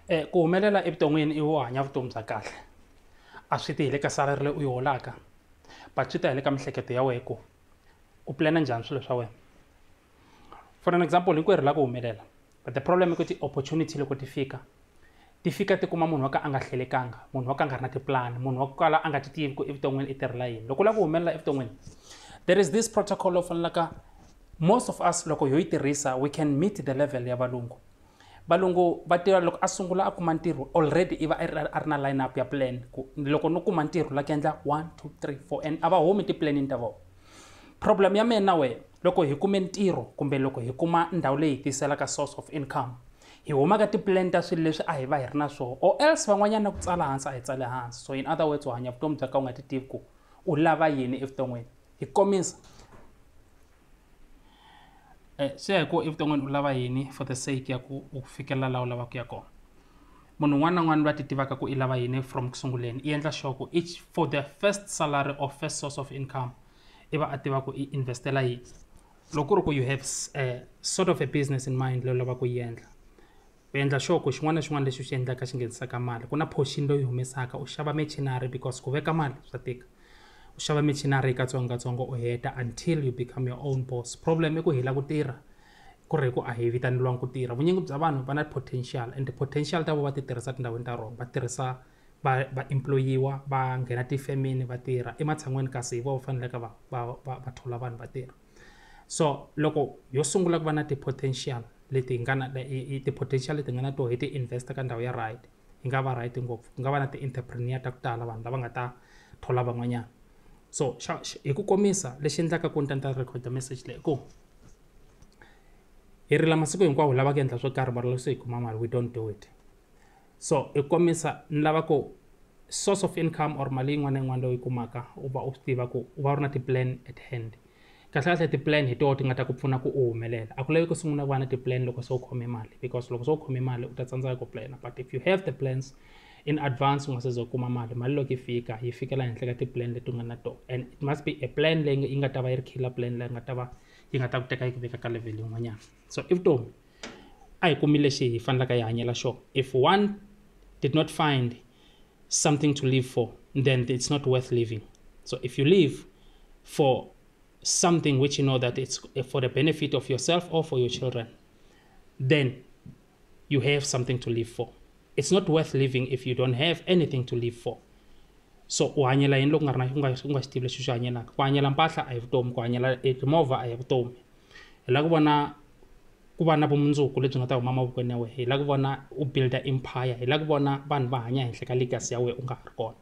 um ku humelela evuton'wini i wo hanya vutomi bya kahle a swi ti hi le ka salary leyi u yi holaka but swi ta hi le ka miehleketo ya wena ku u plan-a njhani swilo swa wena for an example hinkwerhu hi lava ku humelela but the problem i ku ti-opportunity loko ti fika ti fika ti kuma munhu wa ka a nga hlelekanga munhu wa ka a nga ri na tipulani munhu wa ku kala a nga ti tivi ku evuton'wini i tirhela yini loko u lava ku humelela evuton'wini there is this protocol lowu fanelaka most of us loko yo yi tirhisa we can meet the level ya valungu valungu va tiva loko a sungula a kuma ntirho already i va a ri na line up ya plan ku loko no kuma ntirho la ku endla one two three four and a va humi tiplanini ta vona problem ya mina na wehe loko hi kume ntirho kumbe loko hi kuma ndhawu leyi hi tiyiselaka source of income hi huma ka tipulani ta swilo leswi a hi va hi ri na swona or else van'wanyana ku tsala hansi a hi tsale hansi so in other words u hanya vutomi bya ka u nga ti tivi ku u lava yini evuton'wini hi komisa eh, swi ya hi ku evuton'wini u lava yini for the sake ya ku u fikelela laha u lavaka ku ya kona munhu un'wana na un'wana va ti tivaka ku i lava yini from ku sunguleni i endla sure ku each for the first salary or first source of income i va a tiva ku i investela yini loko ku ri ku you have a eh, sort of a business in mind leyi u lavaka ku yi endla u endla sure ku xin'wana na xin'wana lexi u xi endlaka xi nghenisaka mali ku na portion loyi humesaka u xava machinary because ku veka mali swa tika u xava machinary katsongokatsongo u heta until you become your own boss problem i ku hela ku tirha ku ri hi ku a hi vitaneliwangi ku tirha vunyingi bya vanhu va na potential and potential ta vo va ti tirhisa tindhawini ta rona va tirhisa va va employiwa va nghena tifemini va tirha ematshan'wini kasi hi vona va faneleke va va va va thola vanhu va tirha so loko yo sungula ku va na ti-potential leti hi nga na ti-potential leti nga na to hi ti invest ka ndhawu ya right yi nga va right ngopfu ku nga va na ti-entrepreneur ta ku tala vanhu lava nga ta thola van'wanyana so xa hi ku komisa lexi endlaka ku ni ta ni ta record message leyi ku hi rila masiku hinkwawo lavaka endla swo karhi mara loko se hi kuma mali we don't do it so i komisa ni lava ku source of income or mali yin'wana na yin'wana leyi u yi kumaka u va u swi tiva ku u va u ri na ti-plan at hand kahlekahle ti-plan hi toho ti nga ta ku pfuna ku u humelela a ku lavi ku sungula ku va na ti-plan loko se u khome mali because loko se u khome mali u ta tsandzeka ku plana but if you have the plans in advance u nga se za u kuma mali mali loko yi fika yi fikela henhla ka ti-plan leti u nga na toho and it must be a plan leyi yi nga ta va yi ri killer plan leyi nga ta va yi nga ta ku teka yi ku veka ka level yin'wanyana so i vutomi a hi kumi lexi hi fanelaka hi hanyela xona if one did not find something to live for then it's not worth living so if you live for something which you know that it's for the benefit of yourself or for your children then you have something to live for it's not worth living if you don't have anything to live for so u hanyela yini loko nga ri na u nga u nga xi tivi lexi u xi hanyelaka ku hanyela mpahla a hi vutomi ku hanyela timovha a hi vutomi Hi lava ku vona ku va na vumundzuku lebyi nga ta huma mavokweni ya wena, hi lava ku vona u build-a empire, hi lava ku vona vanhu va hanya ehenhla ka legacy ya wena u nga ha ri kona.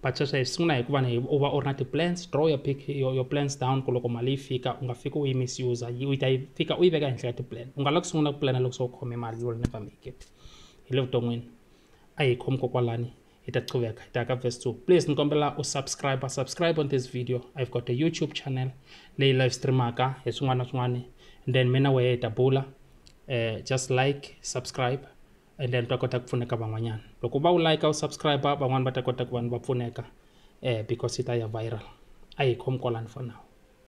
But sweswo hi swi sungula hikuva u va u ri na ti-plans, draw your your plans down ku loko mali yi fika u nga fiki u yi misuse-a, u ta yi fika u yi veka ehenhla ka ti-plan. U nga lavi ku sungula ku pulana loko se u khome mali, you will never make it hi le vuton'wini. A hi yi khomi kokwalani. hi ta qhuveka hi ta ya ka verse 2 please ni kombela u subscribe subscribe on this video i've got a youtube channel leyi live streamaka hi swin'wana na swin'wana and then mina wehe hi ta bula uh, just like subscribe and then ta kota ku pfuneka van'wanyana loko va u like u subscribe van'wana va ta kota ku vanhu va pfuneka uh, because yi ta ya viral a hi khomi kwalani for now